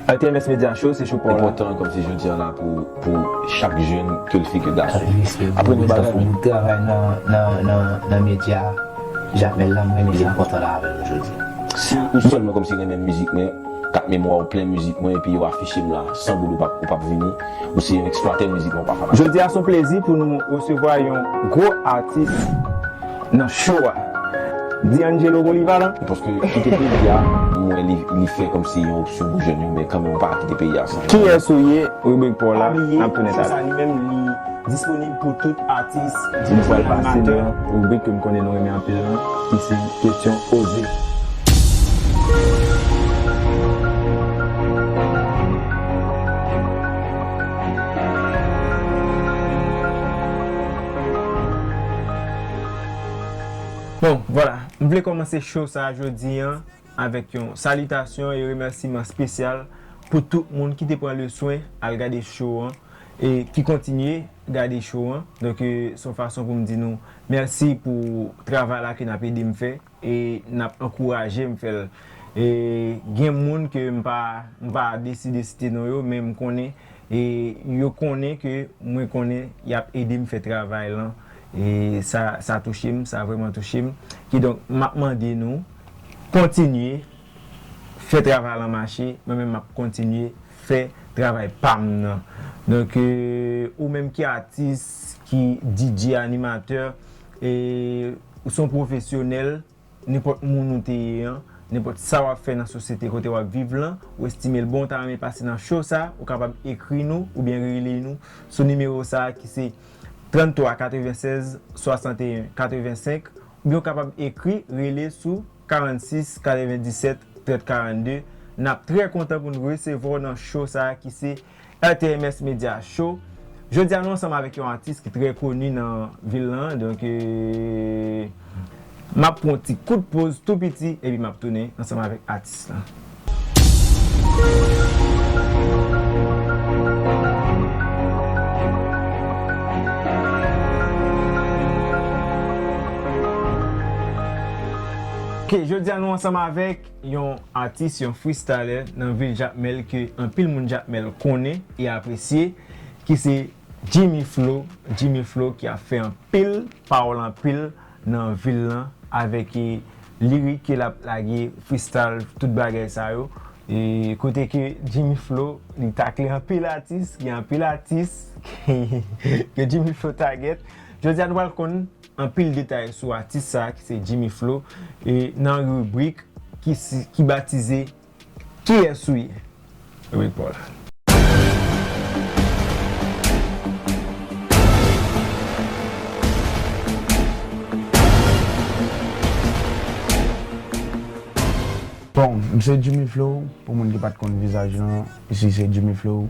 Alterness Media Show se chou paw la. Enpòtan kòm si jodi an la pou chak jèn ke l fi ke gason. Anpil respè pou ou staff ou bout travay nan medya a. Jakmèl la m renmen jan ou kontan la avè nou jodi. Si ou sèlman kòm si renmen mizik mwen, kat memwa ou plen mizik mwen epi yo afiche m la san goud ou pap vini, ou se yon eksplwatè mizik mwen ou pa fanatik. Jodi a s on plezi pou nou resevwa yon gwo atis. Nan show a. D'Angelo Bolivar la. Paske kite peyi a, m wè li fè kòm si yon opsyon pou jèn yo men kanmenm pa kite peyi a san. Kiyès ou ye? Ribrik pa w la ap tounen talè. Abiye, se sa li menm li disponib pou tout atis, diksè, animatè. Nou pral pase nan ribrik ke m konnen nou renmen anpil lan ki se Kesyon Oze. Bon, vwala, m vle kòmanse show sa jodi an avèk yon salitasyon e remèsiman spesyal pou tout moun ki te pran le swen al gade show an e ki kontinye gade show an. Donk se yon fason pou m di nou mèsi pou travay la ke n ap ede m fè. e nap ankouraje m fèl e gen moun ke m pa m pa deside site non yo men m konnen e yo konnen ke mwen konnen yap ede m fè travay lan e sa sa touche m sa vrèman touche m kidonk map mande nou kontinye fè travay lan mache mwen menm map kontinye fè travay pam nan donk ou menm ki atis ki DJ animatè E ou se yon pwofesyonèl, nenpòt moun ou te ye an, nenpòt sa w ap fè nan sosyete kote w ap viv lan, ou estime l bon ou ta renmen pase nan show sa, ou kapab ekri nou oubyen rele nou sou nimewo sa ki se 33 96 61 85 oubyen ou kapab ekri, rele sou 46 97 30 42. N ap trè kontan pou n resevwa w nan show sa ki se. RTMS Media Show Jodi a nou ansanm avèk yon atis ki trè koni nan vil lan donk map pran yon ti kout poz tou piti epi map tounen ansanm avèk atis lan. Jodi a nou ansanm avèk. Yon atis, yon fristalè nan vil Jakmèl ke anpil moun Jakmèl konnen e apresye ki se Jimmy Flo, Jimmy Flo ki ap fè anpil pawòl anpil nan vil lan avèk lirik ke lap lage, fristal, tout bagay sa yo. Kote ke Jimmy Flo li takle anpil atis, gen anpil atis ke Jimmy Flo tagèt. Jodi a nou pral konn Anpil detay sou atis sa ki se Jimmy Flo nan ribrik ki batize Kiyès ou ye? Louis Paul. Bon, mse Jimmy Flo, pou moun ki pat konn vizaj lan. Si se Jimmy Flow,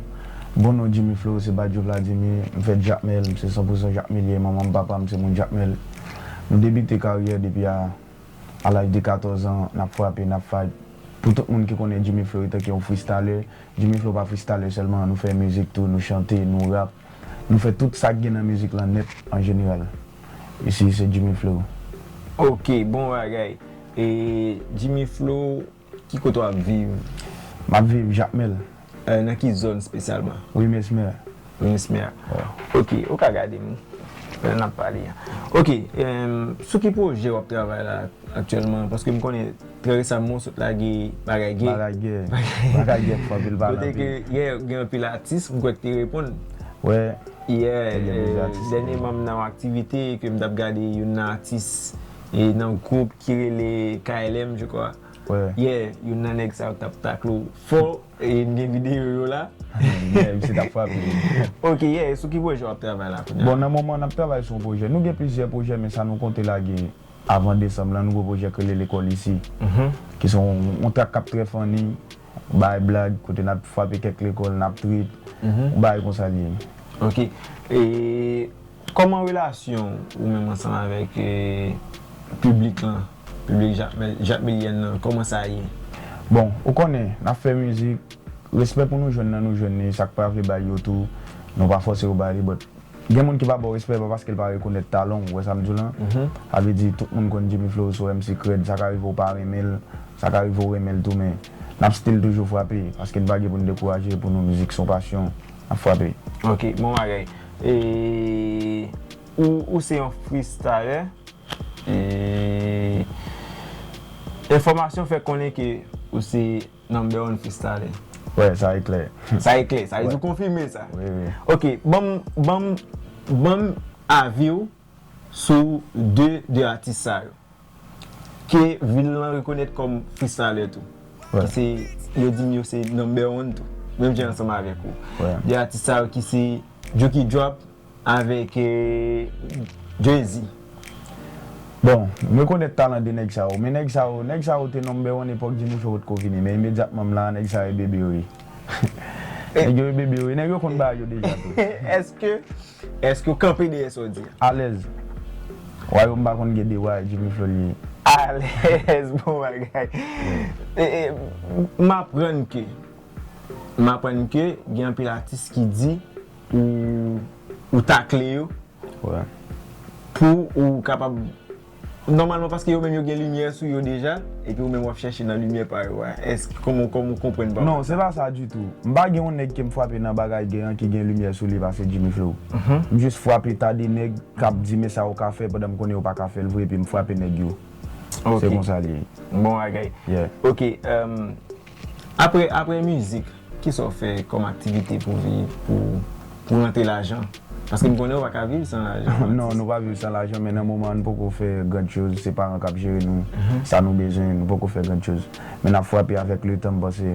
bon non Jimmy Flow se Badio Vladimir, m fèt Jakmèl, m se san pou san Jakmelyen, manman m papa m se moun Jakmèl. Nou debite karyè depi a a laj de 14 an, n ap frape, n ap fayt. Pou tout moun ki konnen Jimmy Flow etanke yon fristalè, Jimmy Flow pa fristalè sèlman, nou fè mizik tou, nou chante, nou rap, nou fè tout sa k gen nan mizik lan nèt an jeneral. Si se Jimmy Flow. Ok, bon bagay. E Jimmy Flow, Ki kote w ap viv? M ap viv Jakmèl. Nan ki zòn spesyalman? Rue Mesmer. Rue Mesmer. Ok, ou ka gade m pandan n ap pale a. Ok, sou ki pwojè w ap travay la aktyèlman? Paske m konnen trè resamman ou sot lage Bagay Gè. Bagay Gè. Bagay Gè fò anpil pale anpil. Kote ke yè gen anpil atis m kwè ki te reponn. Wè. Yè, dènyèman m nan yon aktivite ke m t ap gade youn nan atis. E nan group ki rele KLM je kwa. Yeah youn nan nèg sa yo tap takle w fò e m gen videyo yo la. Yeah misye tap frape wi. Ok yeah e sou ki pwojè wap travay la kounya? Bon nan moman nap travay sou yon pwojè. Nou gen plizyè pwojè men sa nou konte lage avan desanm lan nouvo pwojè ki rele lekòl isi. Ki se yon trak kap trè funny, bay blag kote nap frape kèk lekòl nap trip. Yon bagay konsa li ye. Ok e. Kòman relasyon ou menm ansanm avèk piblik lan, piblik Jakmèl, Jakmelyèn lan, kòman sa ye? Bon, ou konnen, n ap fè mizik, respè pou nou jwenn nan nou jwenn li, sa k pa vle ba yo tou, nou pa fòse yo ba li, but gen moun ki pa ba w respè, pa paske l pa rekonèt talan w, ou wè sa m di w lan? Sa vle di, tout moun konn Jimmy Flow sou MC Krèd, sa ka rive ou pa renmen l, sa ka rive ou renmen l tou, men, n ap still toujou frape, paske n pa gen pou n dekouraje, pou nou mizik s on pasyon, n ap frape. Ok, bon bagay. Eee Ou se yon fristalè Eee Enfòmasyon fè konnen ke ou se number one fristalè Wè sa e klè Sa e klè, sa vle di ou konfime sa Wi wi Ok, banm, banm, banm avi ou sou 2 de atis sa yo. Ke vil lan rekonèt kòm Kristalè tou. Ki se, yo di m yo se number one tou. Menm jan ansanm avèk ou. De atis sa yo ki se Jokey Drop avèk Jay-Z. Bon, m rekonèt talan 2 nèg sa yo. Men nèg sa yo, nèg sa yo te number one epòk Jimmy Show potko vini. Men imedyatman m la a, nèg sa yo e bebe yo ye. Nèg yo e bebe yo ye. Nèg yo konn bagay yo deja tou. Èske Eske ou kanpe dèyè sa w di a? Alèz! Wayom pa konn gen 2 wa e Jimmy Flo li ye. Alèz! Bon bagay! M aprann ke M aprann ke gen anpil atis ki di ou takle yo pou ou kapab Nòmalman paske yo menm yo gen limyè sou yo deja epi ou menm wap chèche nan limyè pa yo a èske kòman ou konprann pawòl sa. Non se pa sa ditou. M pa gen yon nèg ke m fwape nan bagay gen an ki gen limyè sou li pase Jimmy Flo. M jis fwape ta de nèg kap di men sa ou ka fè pandan m konnen yo pa ka fè l vre epi m fwape nèg yo. Se konsa li ye. Bon bagay. Yeah. Ok. Apre apre mizik kisa w fè kòm aktivite pou viv pou pou rantre lajan? Paske m konnen ou pa ka viv san lajan kòm atis. Non nou pa viv san lajan men nan moman an nou poko fè grand choz se paran kap jere nou sa nou bezwen nou poko fè grand choz men nap frape avèk letan m panse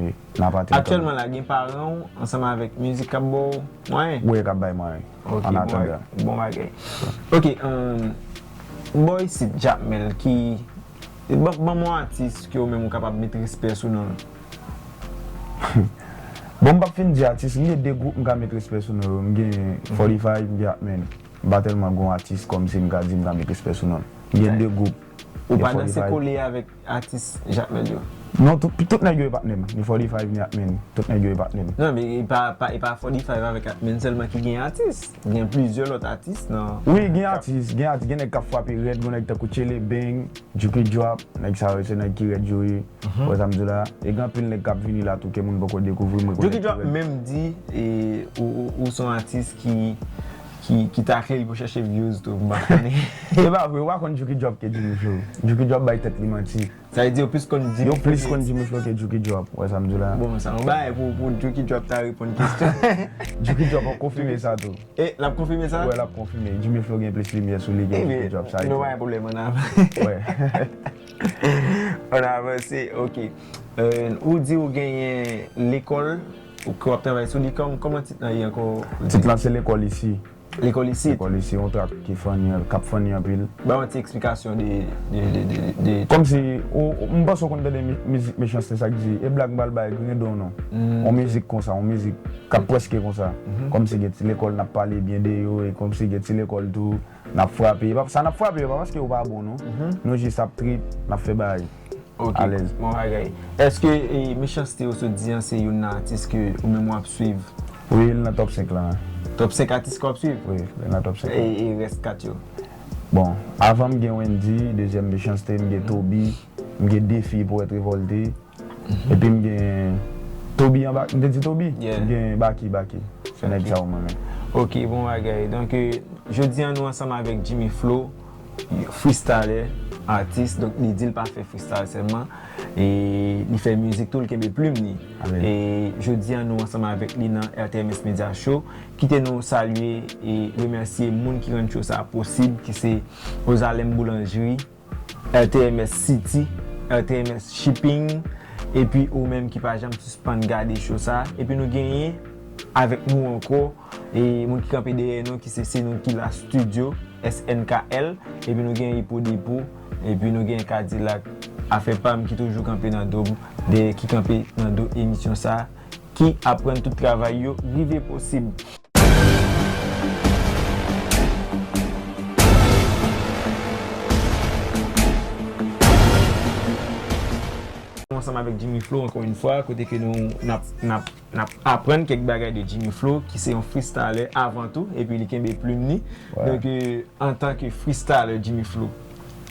nap atenn kanmèm. Aktyèlman la gen paran w ansanm avèk mizik kap ba w mwayen? Wi kap bay mwayen an atandan. Ok bon bagay. Ok m ba w isit Jakmèl ki E banm banm on atis ke ou menm ou kapab met respè sou non l. Humm bon m pap fin di atis m gen 2 gwoup m ka met respè sou non yo m gen 45 m gen Akmen m pa tèlman gon atis kòm si m ka di m ka met respè sou non l m gen 2 gwoup Ou pa danse kole avèk atis Jakmèl yo? Non tout tout nèg yo e patnè m ni 45 ni Akmen tout nèg yo e patnè m. Non men e pa e pa 45 avèk Akmen sèlman ki gen atis. Gen plizyè lòt atis nan. Wi gen atis, gen atis gen nèg kap frape rèd gon nèg tankou Tchelebeng, Djuki Drop, nèg sa yo se nèg ki rèd yo ye ou wè sam diw la e gen anpil nèg kap vini la tou ke moun poko dekouvri mwen konnen ki rèd. Djuki Drop menm di ou son atis ki ki takle li pou chèche vyouz tou mpa konnen. Se pa vre ou pa konn Djuki Drop ke di nou cho, Djuki Drop bay tèt li manti. Sa vle di yo plis konn Jimmy Show. Yo plis konn Jimmy Show ke Juki Drop, wè sa m di w la? Bon, sa yon bagay pou Juki Drop ta reponn kesyon. Juki Drop ap konfime sa tou. E, l ap konfime sa? Wè, l ap konfime. Jimmy Show gen plis limyè sou li ke Juki Drop, sa e di. Ebyen, nou pa gen pwoblèm, ann avanse. Wè. Ann avanse, ok. Ou di ou genyen lekòl ke w ap travay sou li. Kòman tit lan ye ankò? Tit lan se Lekòl isi. Li kòl isit. Kòl isit yon trak ki funny k ap funny anpil. Ba yon ti eksplikasyon de. Kòmsi ou m panse ou konn tande mizik Mechanste sa k di e blag m pral bay grin don non. Yon mizik konsa yon mizik k ap prèske konsa. Kòmsi gen ti lekòl n ap pale byen de yo e kòmsi gen ti lekòl tou n ap frape. Sa n ap frape yo pa paske yo pa bon non. Nou jis ap trip, n ap fè bagay alèz. Ok bon bagay. Èske Mechanste ou sot di an se youn nan atis ke ou menm w ap swiv? Wi l nan top 5 lan. Top 5 atis ke w ap swiv? Wi l nan top 5 lan. E rès 4 yo? Bon avan m gen Wendy, dezyèm Mechanste, m gen Toby, m gen Defi, Poète Revolte, epi m gen Toby anba, m te di Toby? M gen Baky, Baky. Se nèg sa yo m renmen. Ok bon bagay. Donk jodi an nou ansanm avèk Djimi Flow Fristalè, atis, donk li di l pa fè fristal sèlman, li fè mizik tou, li kenbe plim li. E jodi a nou ansanm avèk li nan RTMS Media Show. Kite nou salye e remèsye moun ki rann show sa a posib ki se Ozalèm Boulanjri, RTMS City, RTMS Shipping epi ou menm ki pa janm sispann gade show sa a. Epi nou genyen avèk nou ankò. E moun ki kanpe dèyè nou ki se Senukila Studio, SNKL, epi nou gen Ipo Depo, epi nou gen Kadilak, afè pa m ki toujou kanpe nan do m, dèyè ki kanpe nan do emisyon sa a, ki ap rann tout travay yo rive posib. Ansanm avèk Jimmy Flow ankò yn fwa, kote ke nou, n ap, n ap. N ap aprann kèk bagay de Jimmy Flo ki se yon fristalè avan tou epi li kenbe plim li. Donk antan ke fristalè Jimmy Flo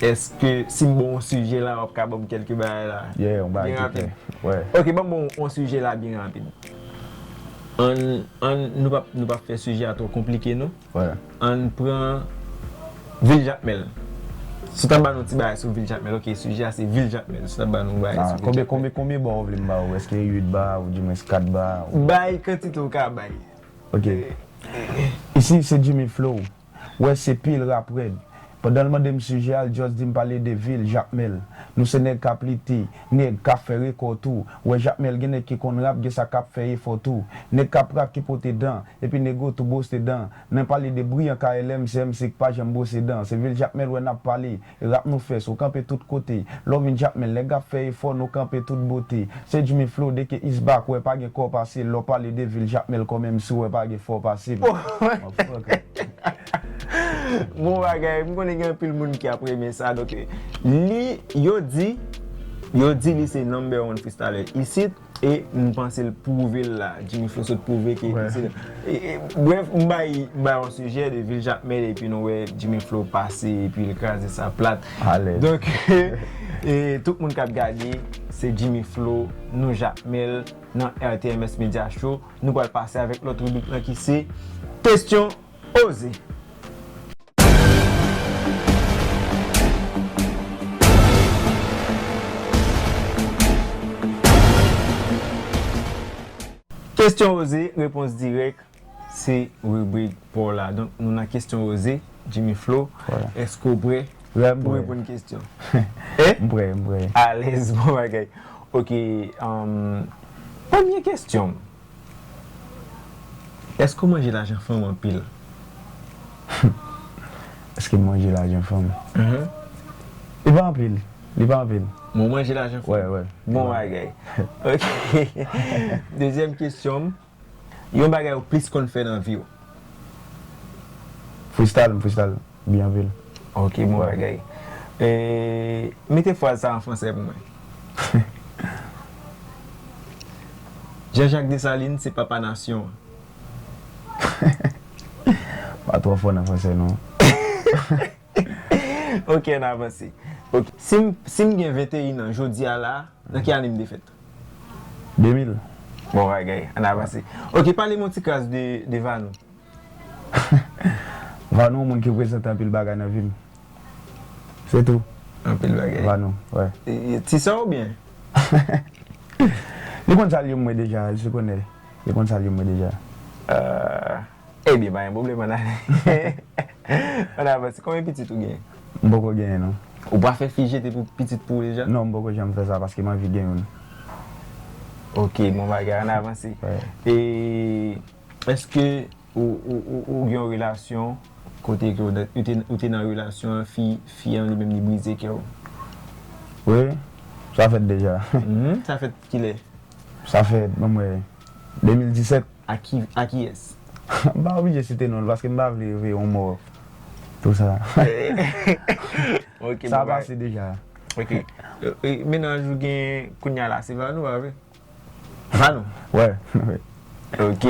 èske si m ba w yon sijè la w ap ka ban m kèlke bagay la byen rapid? Ok ban m ba w yon sijè la byen rapid. An nou p ap fè sijè a twò konplike non. Ann pran vil Jakmèl. Sou ta ba nou ti bagay sou vil Jakmèl. Ok, sijè a se vil Jakmèl. Sou ta ba nou bagay sou vil Jakmèl. A, konbyen ba ou vle m ba ou? Èske 8 ba ou di mwens 4 ba ou? Bay kantite ou ka bay. Ok. Isi se Jimmy Flow. Wè se pil rap rèd. Pandan l mande m sijè a, l just di m pale de vil Jakmèl. Nou se nèg k ap lite, nèg k ap fè rekò tou. Ou wè Jakmèl gen nèg ki konn rap, gen sa k ap fè efò tou. Nèg k ap rap ki pote dan, epi nèg yo tou boste dan. Nan pale de Brian KLM se MC k pa janm bwose dan. Se vil Jakmèl ou wè n ap pale. E rap nou fè, sou kanpe tout kote. Lè w vin Jakmèl, nèg k ap fè efò, nou kanpe tout bote. Se Jmmy Flow, DK is back, ou wè pa gen kò pase l. Lè w pale de vil Jakmèl kòm MC ou wè pa gen fò pase m. Motherfucker. Bon bagay, m konnen gen anpil moun ki ap renmen sa donk li yo di yo di li se number one freestyler isit e m panse l pwouve l la Jimmy Flow sot pwouve ke li se brèf m bay m bay yon sijè de vil jakmèl epi nou wè Jimmy Flow pase epi l kraze sa plat donk e tout moun k ap gade se Jimmy Flow nou jakmèl nan RTMS media show nou pral pase avèk lòt ribrik lan ki se kesyon Oze. Kesyon Oze, Repons Dirèk se ribrik pa w la. Donk nou nan kesyon Oze, Jimmy Flo, èske ou prè pou reponn kesyon? M prè, m prè. Alèz, bon bagay. Ok, premye kesyon m. Èske ou manje lajan fanm anpil? Humm èske m manje lajan fanm? Humm li pa anpil li pa anpil. Men w manje lajan fanm? Wè wè. Bon bagay. Ok. Dezyèm kesyon m, yon bagay ou plis konn fè nan vi w? Freestyle m freestyle byen anpil. Ok bon bagay. Mete fraz sa an fransè pou mwen. Jean Jacques Dessalines se papa nasyon an. M pa twò fò nan fransè non. Ok an avanse. Si m gen 21 an jodi a la, nan ki ane m te fèt? Demil bon bagay an avanse. Ok pale m on ti kras de Vanou. Vanou on moun ki reprezante anpil bagay nan vim se tou. Anpil bagay. Vanou wi. Ti sè w oubyen? Li konn salye m wi deja, li konn salye m wi deja. Ebyen pa gen pwoblèm an ale an avanse. Konbyen pitit ou genyen? M poko genyen non. Ou pa fè fi jete pou pitit pou ou deja? Non m poko janm fè sa paske m anvi gen youn. Ok bon bagay an avanse. E eske ou gen yon relasyon kote ke ou te nan relasyon an fi an li menm li brize kè ou? Wi sa fèt deja. Sa fèt kilè? Sa fèt banm wè 2017. A ki a kiyès? M pa oblije site non l paske m pa vle yo veye on mò pou sa. Ok Sa pase deja. Ok E mennaj ou gen kounya la se Vanou a vre? Vanou? Ouais. Ok.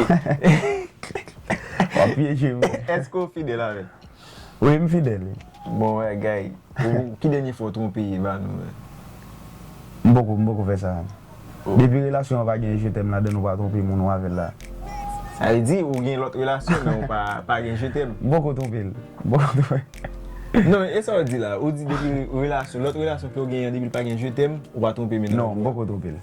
Wap pyeje m. Èske ou fidèl avè l? Wi m fidèl wi. Bon bagay. Ki dènye fwa w twonpe Eva nou wè? M poko m poko fè sa. Depi relasyon an pa gen je t'aime ladann ou pa twonpe moun ou avèl la. Sa vle di ou gen lòt relasyon men ou pa gen je t'aime. M poko twonpe l. M poko twonpe. Non men e sa w di la? Ou di depi relasyon lòt relasyon ke w genyen an depi l pa gen je t'aime ou pa twonpe menaj ou an? Non m poko twonpe l.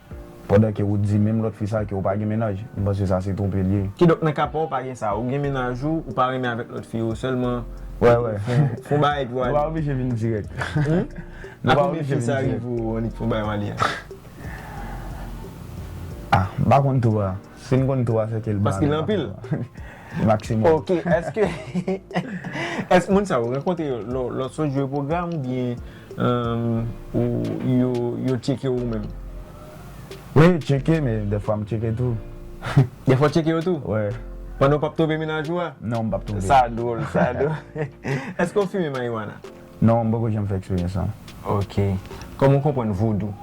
Pandan ke ou di menm lòt fi sa ke ou pa gen mennaj, m panse sa se twonpe l ye. Kidonk nan ka pa w pa gen sa, ou gen mennaj ou, ou pa renmen avèk lòt fi ou sèlman Wè wè. fon bagay pou Nou pa oblije vin dirèk. Hum? A konbyen fi sa rive ou an li k fon bagay pou Alia? Ah, m pa konn twò a. Si m konn twò a se ke l ba Paske l anpil? Maksimòm. Ok, èske èske moun sa yo ou rankontre yo lè w sot jwe pwogram oubyen Humm yo tcheke ou menm. Wi tcheke men dèfwa m tcheke tou. Dèfwa w tcheke yo tou? Wi. Pandan w pap twouve menaj ou a? Non m pap twouve. Sa dwol sa dwol. Eske w fimen marijuana? Non m poko janm fè eksperyans lan. Ok. Koman w konprann vodou?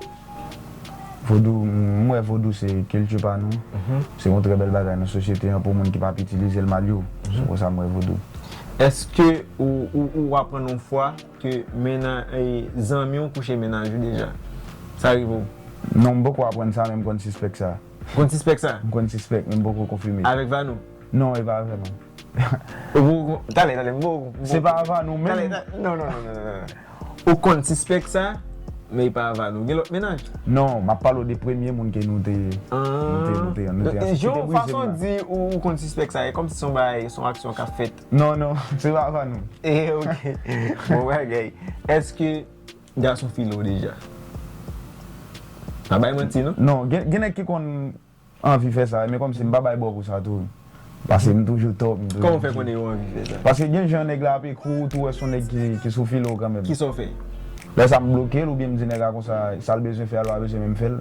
Vodou m wè vodou se kilti pa nou. Se yon trè bèl bagay nan sosyete an pou moun ki pap itilize l mal yo. Se konsa m wè vodou. Eske ou aprann yon fwa Ke mennaj zanmi w kouche mennaj ou deja. Sa rive w? Non, m poko aprann sa men m konn sispèk sa. Ou konn sispèk sa? M konn sispèk men m poko konfime. Avèk Vanou? Non, e pa avè m. Ou poko kon, tale, tale, m poko kon, m poko. Se pa a Vanou menm? Tale, tale, non, non, non, non, non. Ou konn sispèk sa men e pa a Vanou. Ou gen lòt mennaj? Non, m ap pale w de premye moun ke nou te, nou te, nou te, nou te. Jan w fason w di ou konn sispèk sa e kòmsi se yon bagay, se yon aksyon k ap fèt Non non se pa pa nou. Eeh ok bon bagay. Eske gason file w deja? Pa bay manti non. Non gen nèg ki konn anvi fè sa men kòmsi m pa bay bò pou sa tou pase m toujou tòg m toujou. Kòman w fè konnen yo anvi fè sa? Pase gen jan nèg la ap ekri w ou tou wè son nèg ki sou file w kanmèm. Kisa w fè? Lè sa m bloke l oubyen m di nèg la konsa sa l bezwen fè a l pa bezwen menm fè l.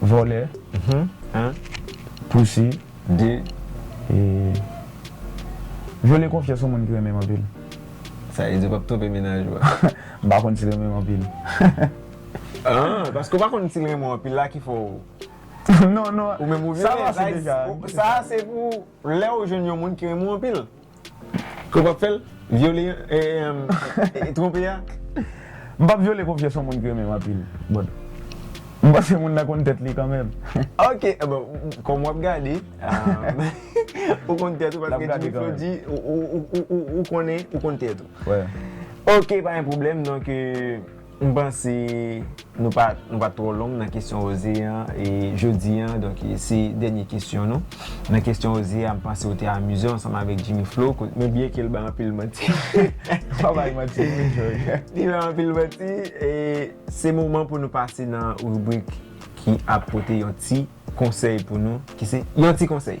Vòlè, 1 Pousi, 2 Vyole konfyans yon moun ki renmen m anpil. Sa vle di ou p ap twonpe mennaj ou a? M pa konn si l renmen m anpil. Ah, paske ou pa konn si l renmen w anpil la ki fè w. Non, non, sa pase deja. Sa se pou lè ou jwenn yon moun ki renmen w anpil. Ke w pap fè l? Vyole e twonpe a? M pap vyole konfyans yon moun ki renmen m anpil. Bon, m panse moun nan konn tèt li kanmenm. Ok, bon, kòm w ap gade, ou konn tèt ou paske Jimmy Flo di ou konnen ou konn tèt ou. Ok, pa gen pwoblèm donk. M panse nou pa nou pa twò long nan kesyon oze an e jodi an donk se dènye kesyon nou nan kesyon oze a m panse ou te amize ansanm avèk Jimmy Flo kot Men byen ke l bay anpil manti pa bay manti non Jòj li bay anpil manti e se moman pou nou pase nan ribrik ki ap pote yon ti konsèy pou nou ki se yon ti konsèy.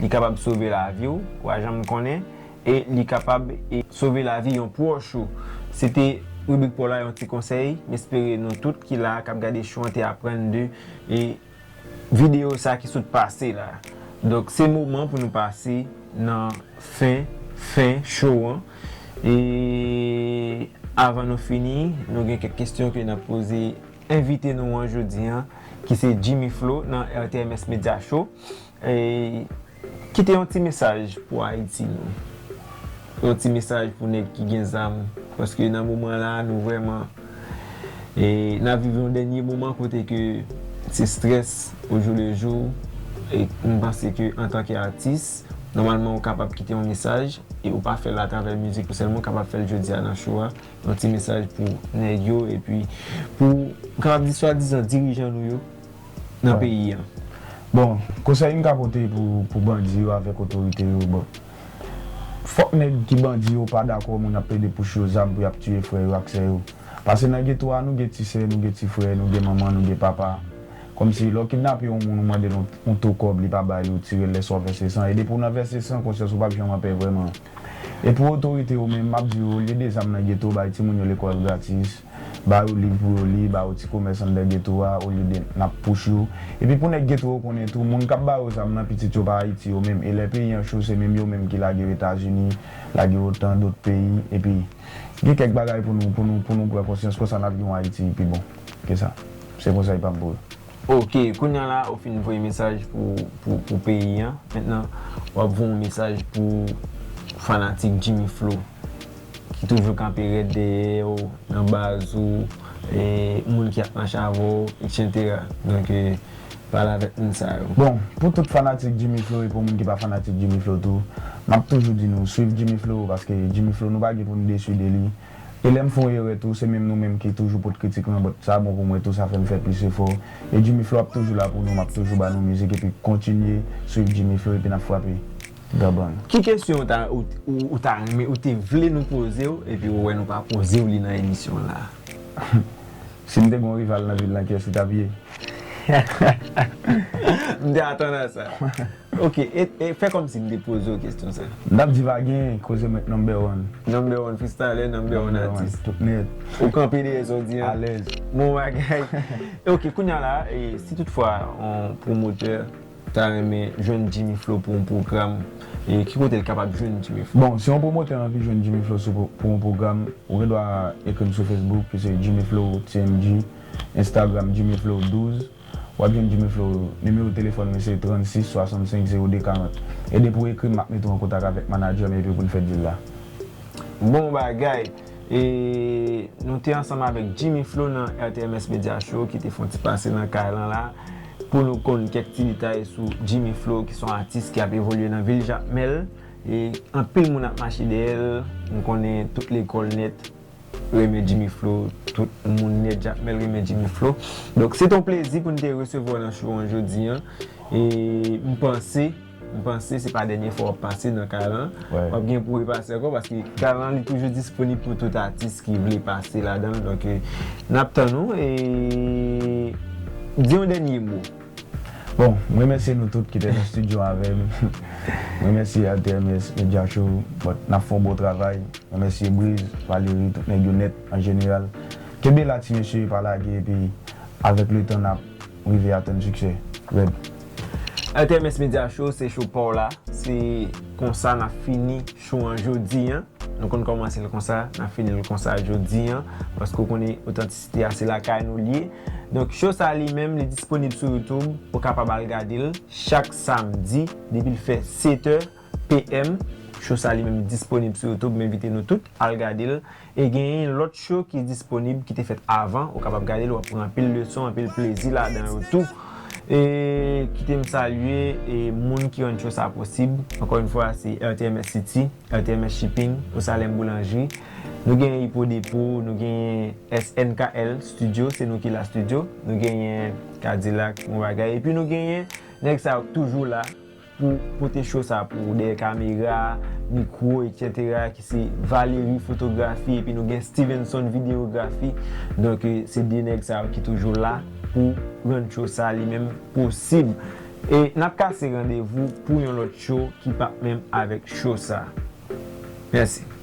Li kapab sove lavi w, wa janm konnen, e li kapab sove lavi yon pwòch ou. Se te ribrik paw la yon ti konsèy, m espere nou tout ki la kap gade show an te aprann de videyo sa ki sot pase la. Donk se moman pou nou pase nan fen fen show an e avan nou fini nou gen kèk kestyon ke nap poze. Envite nou an jodi an ki se Jimmy Flo nan RTMS Media Show kite yon ti mesaj pou Ayiti nou. Yon ti mesaj pou nèg ki gen zam paske nan moman la nou vrèman nan viv yon dènye moman kote ke se strès o jou le jou e m panse ke antan ke atis nòmalman ou kapab kite yon mesaj e ou pa fè l atravè mizik ou sèlman ou kapab fè l jodi a nan show a. Yon ti mesaj pou nèg yo epi pou m kapab di swadizan dirijan nou yo nan peyi an. Bon, konsèy m ka pote pou bandi yo avèk otorite yo, bon, fòk nèg ki bandi yo pa dakò moun ap plede pouche yo zam pou y ap tiye frè yo ak sè yo. Pase nan geto a nou gen ti sè, nou gen ti frè, nou gen manman, nou gen papa. Kòmsi lè w kidnape yon moun ou mande l yon to kòb li pa bay li ou tire l lè sa w vèse san e depi w nan vèse san konsyans ou p ap janm anpè vrèman. E pou otorite yo menm, m ap di yo, olye de zam nan geto, bay timoun yo lekòl gratis, ba yo liv pou yo li, ba yo ti komès anndan geto a, olye de n ap pouch yo. Epi pou nèg geto yo konnen tou, moun k ap ba yo zam nan, pitit yo pa Ayiti yo menm. E lè peyi an cho, se menm yo menm ki lage yo Etazini, lage yo otan, dot peyi. Epi, gen kèk bagay pou nou, pou nou, pou nou pran konsyans, konsa n ap gen yon Ayiti ki pi bon ke sa. Se konsèy pa m pou yo. Ok kounya la ou fin voye mesaj pou peyi an mentnan wap voye yon mesaj pou fanatik Jimmy Flo ki toujou kanpe rèd dèyèw nan baz ou moun ki ap mache avèw etc donk pale avèk moun sa yo. Bon pou tout fanatik Jimmy Flo e pou moun ki pa fanatik Jimmy Flo tou map toujou di nou swiv Jimmy Flo paske Jimmy Flo nou pa gen pou nou desu de li E lè m fè yon erè tou, se menm nou menm ki toujou pot kritik lan but sa bon pou mwen tou sa fè m fè plis efò. E Jimmy Flow ap toujou la pou nou, m ap toujou ba nou mizik epi kontinye swiv Jimmy Flow epi n ap frape ganbang. Ki kesyon ou ta ou ta renmen ou te vle nou poze w epi ou wè nou pa poze w li nan emisyon la a? Si m te gen yon rival nan vil lan kiyès li t ap ye? M te atann a sa. Ok e fè kòmsi m te poze w kestyon sa. M tap di pa gen koze mwen t number one. Number one freestyler, number one atis. Tout nèt. Ou kanpe dèyè sa w di an. Alèz. Bon bagay. Ok kounya la e si tout fwa on pwomotè ta renmen jwenn Jimmy Flow pou on pwogram e ki kote l kapab jwenn Jimmy Flow? Bon si on pwomotè anvi jwenn Jimmy Flow sou pou on pwogram ou gen dwa ekri m sou Facebook ki se Jimmy Flow TMG, Instagram Jimmy Flow 12. Wap jwenn Jimmy Flow yo. Nimewo telefòn mwen se 36 65 02 40. Ede pou ekri m map mete w an kontak avèk manager m epi pou n fè deal la. Bon bagay! E nou te ansanm avèk Jimmy Flow nan RTMS Media Show ki te fon ti pase nan kay lan la pou nou konn kèk ti detay sou Jimmy Flow ki son atis ki ap evolye nan vil Jakmèl e anpil moun ap mache dèyè l, m konnen tout lekòl nèt. Renmen Jimmy Flo Tout moun nèt Jakmèl renmen Jimmy Flo Donk se te yon plezi pou n te resevwa w nan show an jodi an E m panse M panse se pa dènye fwa w ap pase nan kay lan W ap gen pou w repase ankò paske kay lan li toujou disponib pou tout atis ki vle pase ladan l Donk n ap tann ou e Di yon dènye mo Bon, m remèsye nou tout ki te nan studio avè m. M remèsye RTMS Media Show, but n ap fè yon bon travay. M remèsye Breeze, Valery, tout nèg yo nèt an jeneral. Kenbe la ti mesye e pa lage epi avèk le tan n ap rive atenn siksè. Red. RTMS Media Show se show pa w la. Se konsa n ap fini show an jodi an. Nou konn kòmanse l konsa, n ap fini l konsa jodi an. Paske w konnen otantisite. Site a se lakay nou li ye. Donk show sa li menm li disponib sou youtube ou kapab al gade l chak samdi depi l fè 7 è PM. Show sa li menm li disponib sou youtube m envite nou tout al gade l e genyen lòt show ki disponib ki te fèt avan ou kapab gade l wap pran anpil leson anpil plezi ladan yo tou. E kite m salye e moun ki rann show sa posib ankò yon fwa se RTMS City, RTMS Shipping, Osalem Boulangerie. Nou genyen Ipo Depo, nou genyen SNKL Studio, se nou ki la studio, nou genyen Kadilak, bon bagay, epi nou genyen nèg sa yo k toujou la pou pote show sa pou ou dèyè kamera, mikwo, etc. Ki se Valery Fotografi epi nou gen Stevenson Videografi. Donk se 2 nèg sa yo ki toujou la pou rann show sa li menm posib. E n ap kase randevou pou yon lòt show ki p ap menm avèk show sa. Mèsi.